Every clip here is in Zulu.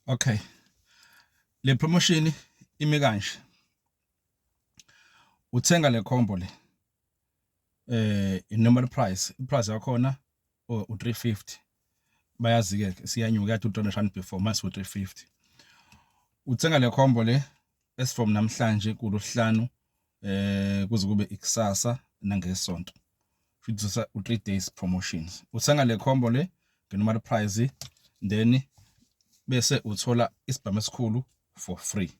Okay. Le promotion ime kanje. Uthenga le combo le. Eh in normal price, iprice yakhona oh, u 350. Bayazi ke siyanyuka ya 200 rand before mase u 350. Uthenga le combo le as from namhlanje kuluhlanu eh kuze kube ikusasa nangesonto futhi usa u 3 days promotions uthenga le combo le ngenormal price then bese uthola isibhamu esikhulu for free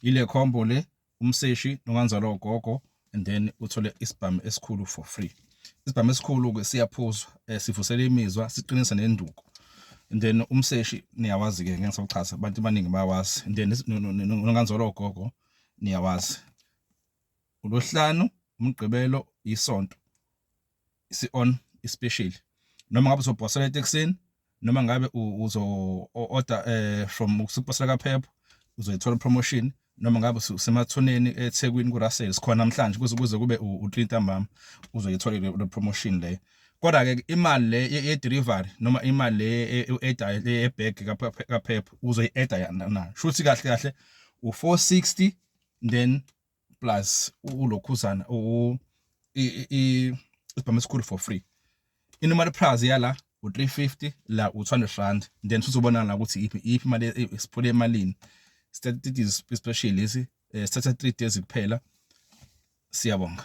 ile combo le umseshi nokanzalo ugogo and then uthole isibhamu esikhulu for free isibhamu esikhulu ke siyaphuzwa eh, sivusela imizwa siqinisa nenduku and then umseshi niyawazi ke ngeke ngisakuchaza abantu abaningi bayawazi and then nokanzolo gogo niyawazi. ULwesihlanu, uMgqibelo, iSonto isi-on isipesheli noma ngabe uzobhosela etekisini noma ngabe uzo-order um eh, from usuphosela kaphepha uzoyithola promotion noma ngabe usemathuneni ethekwini kurasel sikhona namhlanje kuze kuze kube u-three ntambama uzoyithola le promotion leyo Kodwa ke imali le ye-delivery noma imali le e-edayo le ebag kaPep uzoyi-eda yana na. Shuthi kahle kahle u460 then plus ulokhuzana u isibhamu esikhulu for free. Inormal price yala u350 la u200 rand then sizobona la ukuthi iphi iphi imali e, isiphule emalini. Statistics especially lesi eh, sithatha 3 days kuphela. Siyabonga.